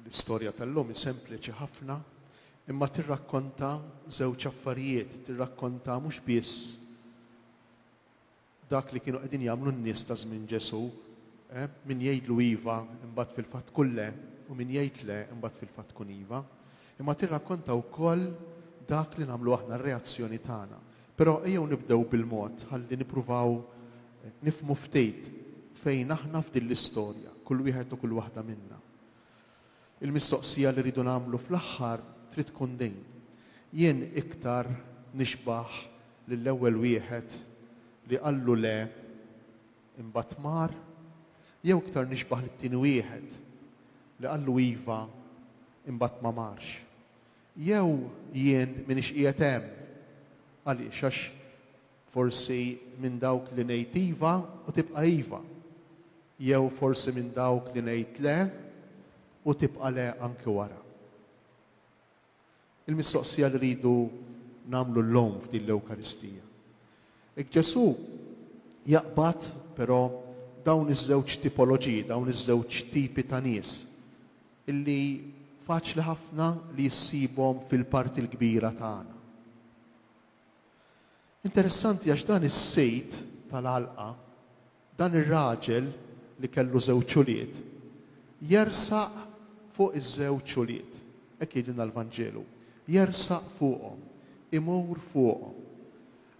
L-istorja tal-lum hi sempliċi ħafna, imma tirrakkonta żewġ affarijiet, tirrakkonta mhux biss dak li kienu qegħdin jagħmlu n-nies ta' żmien Ġesù, eh, min jgħidlu iva imbagħad fil-fatt kun le u min jgħid le imbagħad fil-fatt kun iva, imma tirrakkonta wkoll dak li nagħmlu aħna r-reazzjoni tagħna. Però ejjew nibdew bil-mod ħalli nippruvaw nifhmu ftit fejn aħna f'din l-istorja, kull wieħed u kull waħda minna. Il-mistoqsija li rridu nagħmlu fl-aħħar trid tkun din, jien iktar nixbah lill-ewwel wieħed li qallu le imbagħad mar, jew iktar nixbah lit-tieni wieħed li qallu iva imbagħad ma marx? Jew jien m'iniex qiegħed hemm. Għaliex? Għax forsi minn dawk li ngħid iva u tibqa' iva. Jew forsi minn dawk li ngħid le u tibqa' le anki wara. Il-mistoqsija li rridu nagħmlu llum f'din l-Ewkaristija. Hekk Ġesù jaqbad però dawn iż-żewġ tipoloġiji, dawn iż-żewġ tipi ta' nies. illi faċli ħafna li issibhom fil-parti l-kbira tagħna. Interessanti għax dan is-sejd tal-għalqa, dan ir-raġel li kellu żewġ ulied, jersaq fuq iż-żewġ ulied, hekk jgħidilna l-Vanġelu, jersaq fuqhom, imur fuqhom.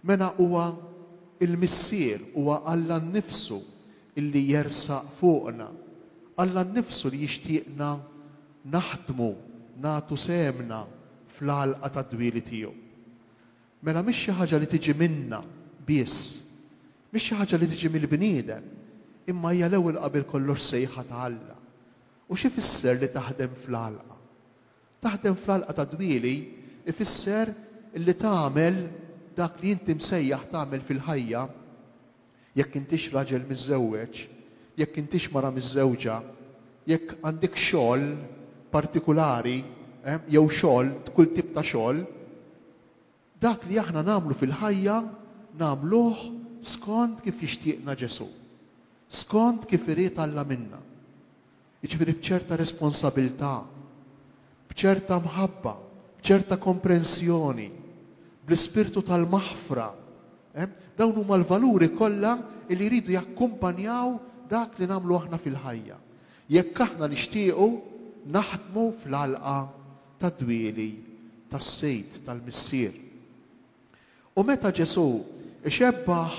Mela huwa l-Missier, huwa Alla nnifsu li jersaq fuqna, Alla nnifsu li jixtieqna naħdmu, nagħtu sehemna fl-għalqa tad-dwieli tiegħu. Mela mhix xi ħaġa li tiġi minna biss, mhix xi ħaġa li tiġi mill-bniedem, imma hija l-ewwel qabel kollox sejħa ta' Alla. U x'ifisser li taħdem fl-għalqa? Taħdem fl-għalqa tad-dwieli jfisser li tagħmel dak li inti msejjaħ tagħmel fil-ħajja, jekk intix raġel miżżewweġ, jekk intix mara miżżewġa, jekk għandikx xogħol partikulari jew xogħol, kull tip ta' xogħol, Dak li aħna nagħmlu fil-ħajja nagħmluh skond kif jixtieqna Ġesù, skond kif irid Alla minna. Jiġifieri b'ċerta responsabilità, b'ċerta mħabba, b'ċerta komprensjoni, bl-ispirtu tal-maħfra. Dawn huma l-valuri kollha li jridu jakkumpanjaw dak li nagħmlu aħna fil-ħajja. Jekk aħna nixtiequ naħdmu fl-għalqa tad-dwieli tas-sejd tal-Missier. U meta Ġesù ixebbah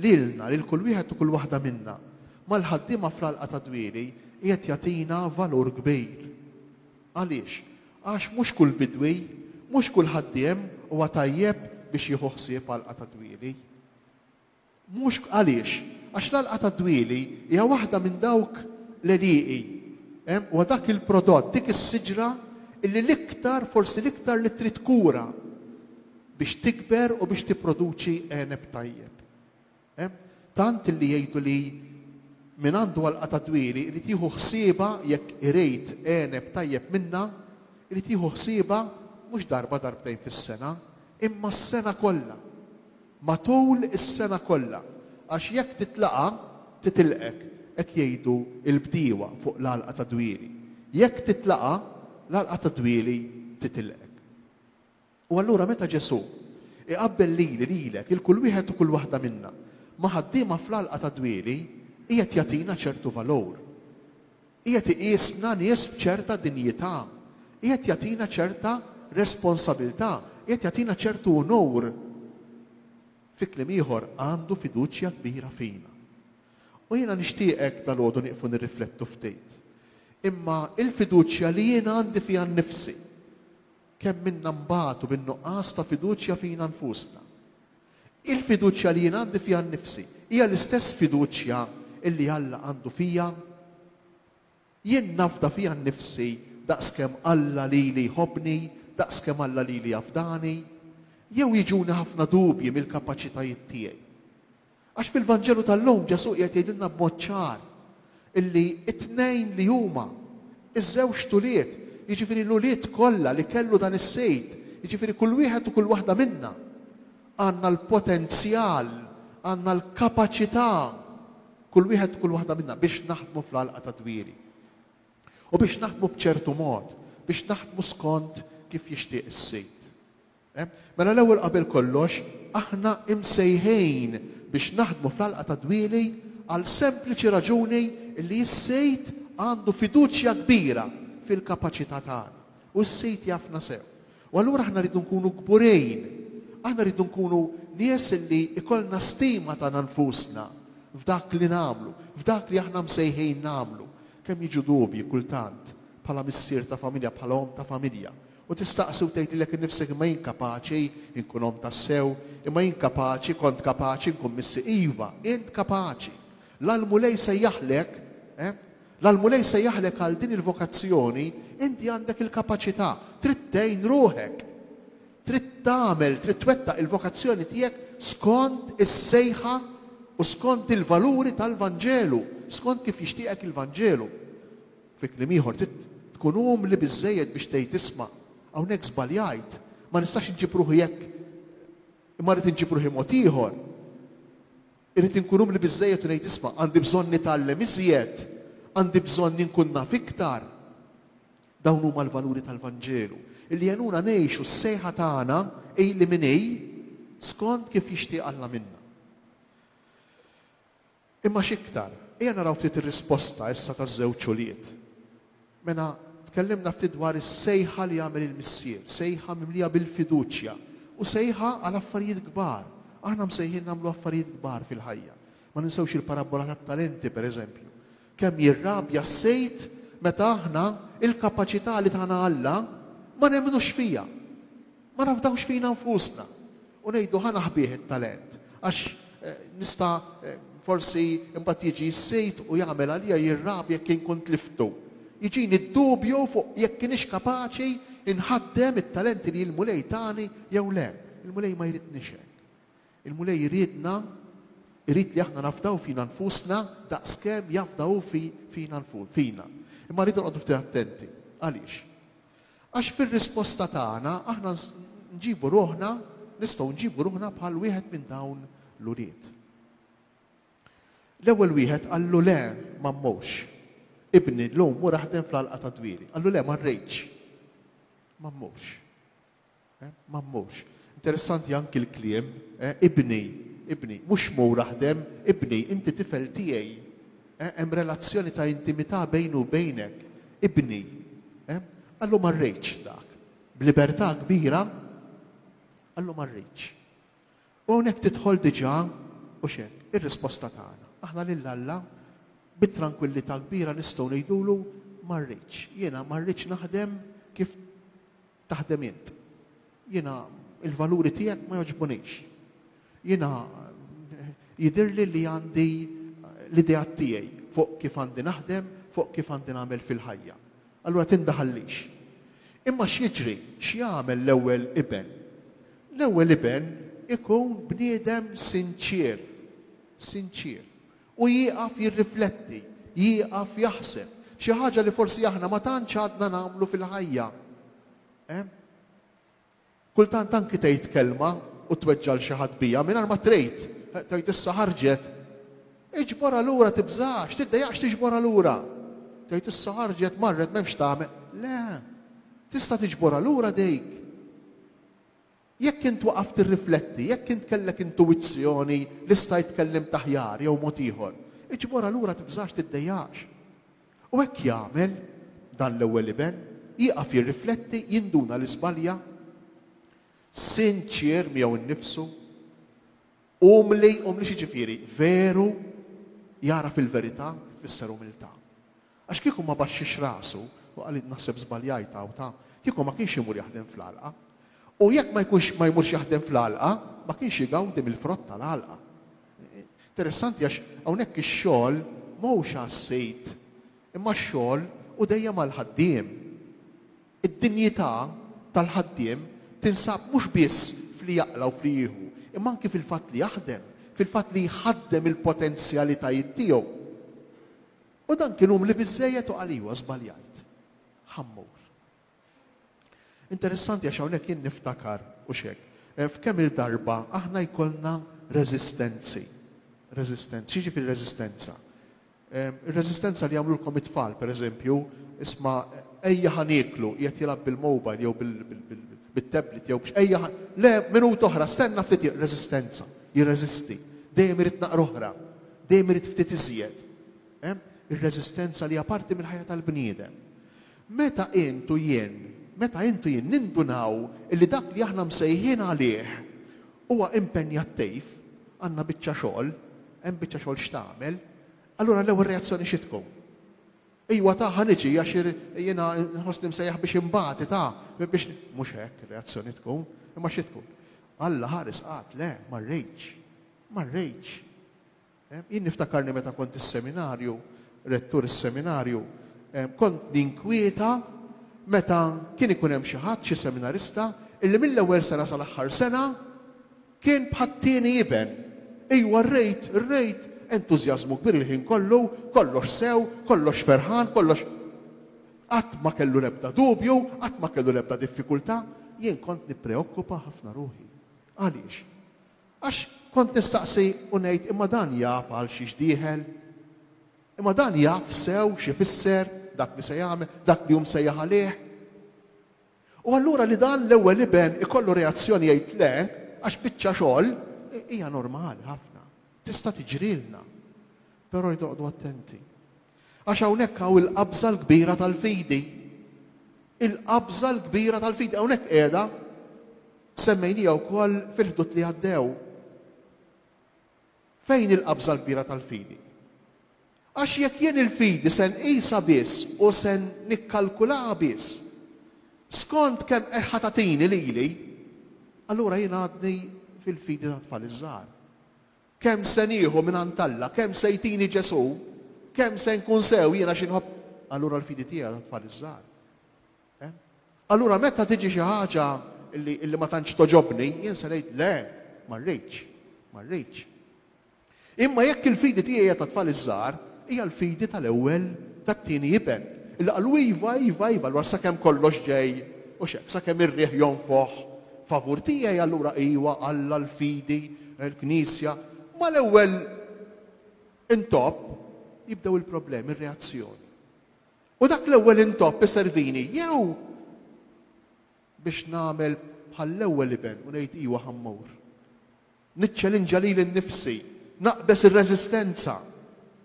lilna, lil kull wieħed u kull waħda minna, mal-ħaddiema fl-għalqa tad-dwieli, qiegħed jagħtina valur kbir. Għaliex? Għax mhux kull bidwi, mhux kull ħaddiem huwa tajjeb biex jieħu ħsieb għalqa tad-dwieli. Mhux għaliex? Għax l-għalqa tad-dwieli hija waħda minn dawk l-għelieqi. Hemm, huwa dak il-prodott, dik is-siġra illi l-iktar, forsi l-iktar li trid kura biex tikber u biex tipproduċi għeneb tajjeb. Hemm, tant illi jgħidu li min għandu għalqa tad-dwieli irid jieħu ħsiebha jekk irid għeneb tajjeb minnha, irid jieħu ħsiebha mhux darba darbtejn fis-sena, imma s-sena kollha. Matul is-sena kollha, għax jekk titlaqha, titilqek, hekk jgħidu l-bdiewa fuq l-għalqa tad-dwieli. Jekk titlaqha, l-għalqa tad-dwieli titilqek. U allura meta Ġesù iqabbel lili, lilek, lil kull wieħed u kull waħda minna, ma' ħaddiema fl-għalqa tad-dwieli, qiegħed jagħtina ċertu valur. Qiegħed iqisna nies b'ċerta dinjità. Qiegħed jagħtina ċerta responsabilità. Qiegħed jagħtina ċertu unur. Fi kliem ieħor, għandu fiduċja kbira fina. U jiena nixtieqek dalgħodu nieqfu nirriflettu ftit. Imma l-fiduċja li jiena għandi fija nnifsi, Kemm minna nbatu bin-nuqqas ta' fiduċja fina nfusna? Il-fiduċja li jien għandi fija nnifsi hija l-istess fiduċja li Alla għandu fija? Jien nafda fija nnifsi daqskemm Alla lili jħobbni, daqskemm Alla lili jafdani? Jew jiġuni ħafna dubji mill-kapaċitajiet tiegħi? Għax fil-Vanġelu tal-lum Ġesù qiegħed jgħidilna b'mod ċar illi t-tnejn li huma, iż-żewġt ulied, jiġifieri l-ulied kollha li kellu dan is-Sid, jiġifieri kull wieħed u kull waħda minna, għandna l-potenzjal, għandna l-kapaċità, kull wieħed u kull waħda minna, biex naħdmu fl-għalqa tad-dwieli. U biex naħdmu b'ċertu mod, biex naħdmu skont kif jixtieq is-Sid. Mela l-ewwel qabel kollox aħna imsejħin biex naħdmu fl-għalqa tad-dwieli għal sempliċi raġuni li s-Sid għandu fiduċja kbira fil-kapaċità tagħna u s-Sid jafna sew. U allura aħna rridu nkunu kburin, aħna rridu nkunu nies li jkollna stima tagħna nfusna f'dak li nagħmlu, f'dak li aħna msejħin nagħmlu. Kemm jiġu dubji kultant bħala missier ta' familja, bħala omm ta' familja. U tistaqsi u tgħid lilek innifsek imma jien kapaċi nkun omm tassew? Imma jien kapaċi, kont kapaċi nkun missi? Iva, int kapaċi. La l-Mulej sejjaħlek, eh? La l-Mulej sejjaħlek għal din il-vokazzjoni, inti għandek il-kapaċità. Trid tgħin ruħek. Trid tagħmel, trid twettaq il-vokazzjoni tiegħek skont is-sejħa u skont il-valuri tal-Vanġelu, skont kif jixtieqek il-Vanġelu. Fi kliem ieħor, trid tkun umli biżżejjed biex tgħid, 'Isma', hawnhekk żbaljajt. Ma nistax inġib ruħi hekk, imma rrid inġib ruħi mod ieħor. Irrid inkun umli biżżejjed u ngħid, 'Isma', għandi bżonn nitgħallem iżjed. Għandi bżonn inkun naf iktar. Dawn huma l-valuri tal-Vanġelu, li jgħinuna ngħixu s-sejħa tagħna, hi li min hi, skond kif jixtieq Alla minna. Imma x'iktar, ejja naraw ftit ir-risposta issa taż-żewġ ulied. Mela, tkellimna ftit dwar is-sejħa li għamel il-Missier, sejħa mimlija bil-fiduċja u sejħa għal affarijiet kbar. Aħna msejħin nagħmlu affarijiet kbar fil-ħajja. Ma ninsewx il-parabbola tat-talenti, pereżempju. Kemm jirrabja s-sejd meta aħna, il-kapaċità li tana Alla, ma nemmnux fiha! ma nafdawx fina nfusna u ngħidu ħa naħbih it-talent għax nista' forsi imbagħad jiġi s-sid u jagħmel għalija jirrabja jekk inkun tliftu. Jiġini d-dubju fuq jekk inix kapaċi nħaddem it-talenti li l-Mulej tani jew le. Il-Mulej ma jridnix hekk. Il-Mulej iridna, irid li aħna nafdaw fina nfusna daqskemm jafda hu fina. Imma rridu noqogħdu ftit attenti. Għaliex? Għax fir-risposta tagħna aħna nġibu ruħna, nistgħu nġibu ruħna bħal wieħed minn dawn l-ulied. L-ewwel wieħed qallu le ma mmurx. Ibni llum mur aħdem fl-għalqa tad-dwieli. Qallu le ma rridx. Ma mmurx. Ma mmurx. Interessanti anki l-kliem, ibni, ibni. Mhux mur aħdem, ibni, inti tifel tiegħi. Hemm relazzjoni ta' intimità bejni u bejnek. Ibni. Qal hu ma rridx dak. B'libertà kbira qal hu ma rridx. U hawnhekk tidħol diġà, hux hekk, ir-risposta tagħna. Aħna lil Alla bi trankwillità kbira nistgħu ngħidulu ma rridx. Jiena ma rridx naħdem kif taħdem int. Jiena l-valuri tiegħek ma jogħġbunix. Jiena jidhirli li għandi l-ideat tiegħi fuq kif għandi naħdem, fuq kif għandi nagħmel fil-ħajja. Allura tindaħallix. Imma x'jiġri? X'jagħmel l-ewwel iben? L-ewwel iben ikun bniedem sinċier, sinċier. U jieqaf jirrifletti, jieqaf jaħseb, xi ħaġa li forsi aħna ma tantx għadna nagħmlu fil-ħajja. Hemm? Kultant anki tgħid kelma u tweġġa' 'l xi ħadd biha mingħajr ma trid, tgħid issa ħarġet. Iġborha lura tibżax, tiddejjaqx tiġborha lura. Tgħid issa ħarġet, marret m'hemmx tagħmel. Le! Tista' tiġborha lura dik. Jekk int waqaft tirrifletti, jekk int kellek intuwizzjoni li stajt tkellimt aħjar jew mod ieħor, iġborha lura tibżax tiddejjaqx. U hekk jagħmel dan l-ewwel iben, jieqaf jirrifletti, jinduna li żbalja. Sinċier miegħu nnifsu, umli, umli xi jiġifieri? Veru, jagħraf il-verità, kif tfisser umiltà. Għax kieku ma baxxiex rasu, u qal id naħseb żbaljajt hawn ta', kieku ma kienx imur jaħdem fl-għalqa. U jekk ma jkunx ma jmurx jaħdem fl-għalqa, ma kienx igawdi mill-frott tal-għalqa. Interessanti għax hawnhekk ix-xogħol ma hux għas-sid, imma x-xogħol hu dejjem għall-ħaddiem. Id-dinjità tal-ħaddiem tinsab mhux biss f'li jaqla' u f'li jieħu, imma anki fil-fatt li jaħdem, fil-fatt li jħaddem il-potenzjalitajiet tiegħu. U dan kien umli biżżejjed u qal iwa, żbaljajt. Ħa mmur. Interessanti għax hawnhekk jien niftakar, hux hekk, f'kemm-il darba aħna jkollna reżistenzi. Reżistenzi. X'jiġifieri reżistenza? Ir-reżistenza li jagħmlulkom it-tfal, pereżempju, isma' ejja ħa nieklu, qiegħed jilgħab bil-mobile jew bit-tablet jew b'x, ejja ħa, le, minuta oħra, stenna ftit, reżistenza, jirreżisti, dejjem irid naqra oħra. Dejjem irid ftit iżjed. Hemm ir-reżistenza li hija parti mill-ħajja tal-bniedem. Meta int u jien, meta int u jien nindunaw illi dak li aħna msejħin għalih huwa impenjattiv, għandna biċċa xogħol, hemm biċċa xogħol x'tagħmel, allura l-ewwel reazzjoni xi tkun? Ejwa ta' ħa niġi għax jiena nħossni msejjaħ biex inbati ta' biex mhux hekk ir-reazzjoni tkun, imma xi tkun? Alla ħares qatt le, ma rridx. Ma rridx. Jien niftakarni meta kont is-seminarju, rettur is-seminarju, kont ninkwieta meta kien ikun hemm xi ħadd, xi seminarista, illi mill-ewwel sena sal-aħħar sena kien bħat-tieni iben. Ejwa rrejt, rrejt entużjażmu kbir il-ħin kollu, kollox sew, kollox ferħan, kollox. Qatt ma kellu l-ebda dubju, qatt ma kellu l-ebda diffikultà. Jien kont nippreokkupa ħafna ruħi. Għaliex? Għax kont nistaqsi u ngħid imma dan jaf għal xiex dieħel? Imma dan jaf sew x'ifisser dak li se jagħmel, dak li hu msejjaħ għalih? U allura li dan l-ewwel iben ikollu reazzjoni jgħid le, għax biċċa xogħol, hija normali ħafna. Tista' tiġrilna. Però rridu noqogħdu attenti. Għax hawnhekk hawn il-qabża l-kbira tal-fidi. Il-qabża l-kbira tal-fidi hawnhekk qiegħda semmejnija wkoll fil-ħdud li għaddew. Fejn il-qabża l-kbira tal-fidi? Għax jekk jien il-fidi se nqisha biss u se nikkalkulaha biss skont kemm qed ħatatini lili, allura jien għadni fil-fidi ta' tfal iż-żgħar. Kemm se nieħu mingħand Alla? Kemm se jtini Ġesù? Kemm se nkun sew jiena xi nħobb? Allura l-fidi tiegħi għadha tfal iż-żgħar. Allura meta tiġi xi ħaġa li ma tantx togħġobni, jien se ngħid, le, ma rridx, ma rridx. Imma jekk il-fidi tiegħi hija tat-tfal iż-żgħar, hija l-fidi tal-ewwel tat-tieni iben, li qalu iva, iva, iva, allura sakemm kollox ġej u x'hekk, sakemm ir-riħ jonfoħ Favur tiegħi allura iwa, Alla, l-fidi, il-Knisja. Mal-ewwel intopp jibdew il-problemi, ir-reazzjoni. U dak l-ewwel intopp iservini jew biex nagħmel bħall-ewwel iben u ngħid iwa ħa mmur. Niċċelinġa lili nnifsi, naqbeż ir-reżistenza,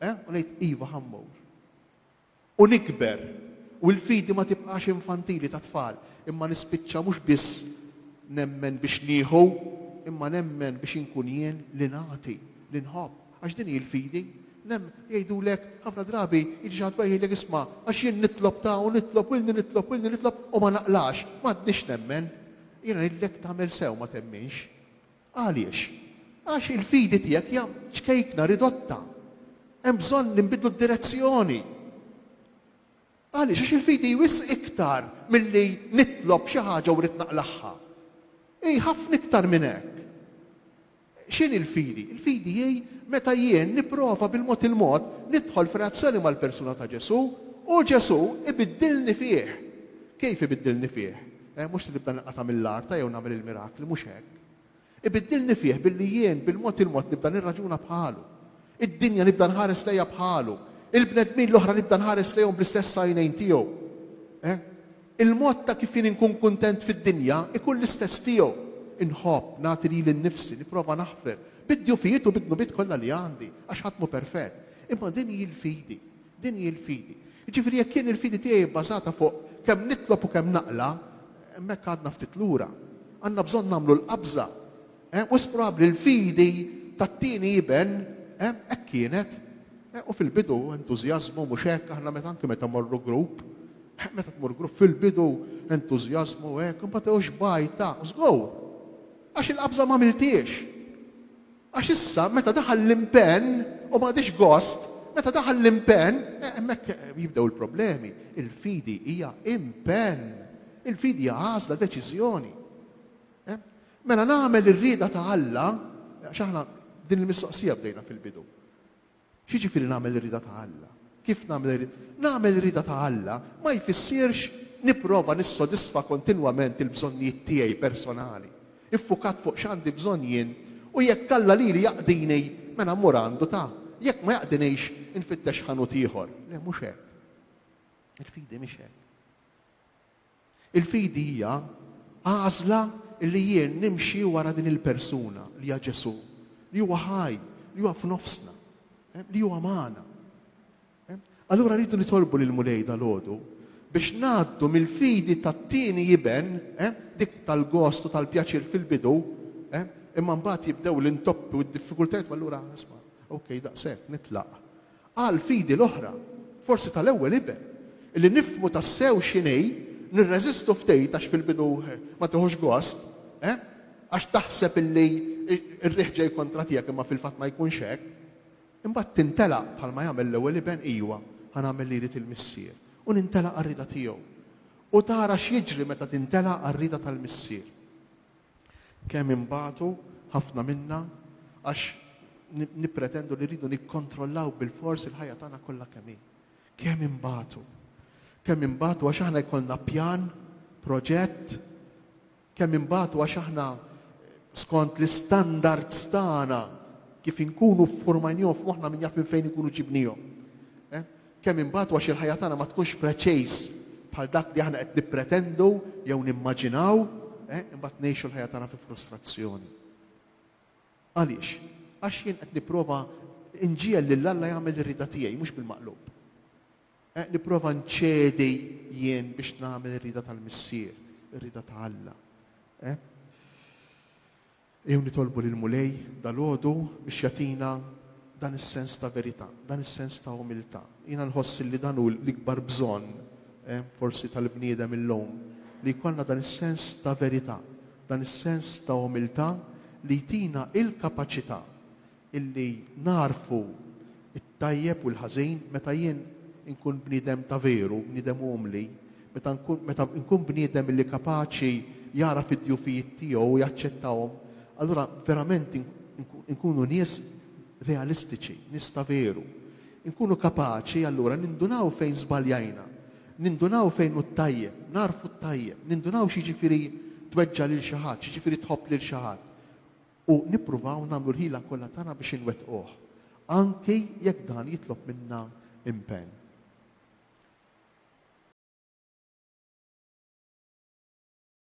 eh, u ngħid iva ħa mmur. u nikber, u l-fidi ma tibqax infantili ta' tfal, imma nispiċċa mhux biss nemmen biex nieħu, imma nemmen biex inkun jien li nagħti, li nħobb, għax din hi l-fidi. Nemmen, jgħidulek, ħafna drabi jiġi xi ħadd u jgħidlek, isma', għax jien nitlob ta' u nitlob u ilni nitlob u ilni nitlob u ma naqlax, m'għadnix nemmen. Jiena ngħidlek tagħmel sew ma temminx. Għaliex? Għax il-fidi tiegħek hija ċkejkna, ridotta. Hemm bżonn li nbiddlu d-direzzjoni. Għaliex? Għax il-fidi hi wisq iktar milli nitlob xi ħaġa u rrid naqlagħha. Hi ħafna iktar minn hekk. X'inhi l-fidi? Il-fidi hi meta jien nipprova bil-mod il-mod nidħol f'relazzjoni mal-persuna ta' Ġesù u Ġesù ibiddilni fih. Kif ibiddilni fih? Eh, mhux se nibda ninqata' mill-arta jew nagħmel il-mirakli, mhux hekk. Ibiddilni fih billi jien bil-mod il-mod nibda nirraġuna bħalu. Id-dinja nibda nħares lejha bħalu. Il-bnedmin l-oħra nibda nħares lejhom bl-istess għajnejn tiegħu. Eh? Il-mod ta' kif jien inkun kuntent fid-dinja ikun l-istess tiegħu. Inħobb, nagħti lili nnifsi, nipprova naħfer, bid-djufijiet u bid-dnubiet kollha li għandi, għax ħadd mhu perfett. Imma din hi l-fidi. Din hi l-fidi. Jiġifieri jekk jien il-fidi tiegħi hi bbażata fuq kemm nitlob u kemm naqla', hemmhekk għadna ftit lura. Għandna bżonn nagħmlu l-qabża. Wisq probabbli l-fidi tat-tieni iben hekk kienet. U fil-bidu entużjażmu, mhux hekk? Aħna meta anki meta mmorru grupp, meta tmur grupp fil-bidu entużjażmu hekk, imbagħad hu xbajta, żgur! Għax il-qabża m'għamilthiex. Għax issa, meta daħal l-impenn, u ma għadhiex gost, meta daħal l-impenn, hemmhekk jibdew il-problemi. Il-fidi hija impenn. Il-fidi hija għażla, deċiżjoni. Mela nagħmel ir-rieda ta' Alla, għax aħna din il-mistoqsija bdejna fil-bidu. X'jiġifieri nagħmel ir-rieda ta' Alla? Kif nagħmel ir-rieda? Nagħmel ir-rieda ta' Alla ma jfissirx nipprova nissodisfa kontinwament il-bżonnijiet tiegħi personali, iffukat fuq x'għandi bżonn jien u jekk Alla lili jaqdini mela mmur għandu ta', jekk ma jaqdinix infittex ħanut ieħor. Le mhux hekk. Il-fidi mhix hekk. Il-fidi hija għażla li jien nimxi wara din il-persuna li hija Ġesù, li huwa ħaj, li huwa f'nofsna, li huwa magħna. Allura rridu nitolbu lill-Mulej dalgħodu biex ngħaddu mill-fidi tat-tieni iben, dik tal-gost u tal-pjaċir fil-bidu, imma mbagħad jibdew l-intoppi u d-diffikultajiet u allura, isma', ok, daqshekk, nitlaq. Għal fidi l-oħra, forsi tal-ewwel iben, li nifhmu tassew x'inhi, nirreżistu ftit għax fil-bidu ma tieħux gost, eh? Għax taħseb li r-riħ ġej kontra tiegħek imma fil-fatt ma jkunx hekk. Imbagħad tintelaq bħalma jagħmel l-ewwel iben, ijwa, ħa nagħmel li jrid il-Missier, u nintelaq għar-rieda tiegħu. U tara x'jiġri meta tintelaq għar-rieda tal-Missier. Kemm inbatu ħafna minna għax nippretendu li rridu nikkontrollaw bilfors il-ħajja tagħna kollha kemm hi. Kemm inbatu. Kemm inbatu għax aħna jkollna pjan, proġett, kemm inbatu għax aħna skont l-istandards tagħna kif inkunu ffurmajnihom f'moħħna min jaf minn fejn inkunu ġibnihom. Eh? Kemm inbatu għax il-ħajja tagħna ma tkunx preċiż bħal dak li aħna qed nippretendu jew nimmaġinaw, imbagħad ngħixu l-ħajja tagħna fi frustrazzjoni. Għaliex? Għax jien qed nipprova nġiegħel lil Alla jagħmel ir-rieda tiegħi mhux bil-maqlub. Nipprova nċedi jien biex nagħmel ir-rieda tal-Missier, ir-rieda ta' Alla. Ejjew nitolbu lill-Mulej dalgħodu biex jagħtina dan is-sens ta' verità, dan is-sens ta' umiltà. Jiena nħoss illi dan hu l-ikbar bżonn forsi tal-bniedem illum, li jkollna dan is-sens ta' verità, dan is-sens ta' umiltà li jtina il-kapaċità illi nagħrfu tajjeb u l-ħażin, meta jien inkun bniedem ta' veru, bniedem umli, meta nkun, meta nkun bniedem illi kapaċi jagħraf id-djufijiet tiegħu u jaċċettahom, allura verament inkunu nies realistiċi, nies ta' veru. Inkunu kapaċi allura nindunaw fejn żbaljajna, nindunaw fejn hu t-tajjeb, nagħrfu t-tajjeb, nindunaw x'jiġifieri tweġġa' lil xi ħadd, x'jiġifieri tħobb lil xi ħadd. u nippruvaw nagħmlu l-ħila kollha tagħna biex inwettquh, anki jekk dan jitlob minna impenn.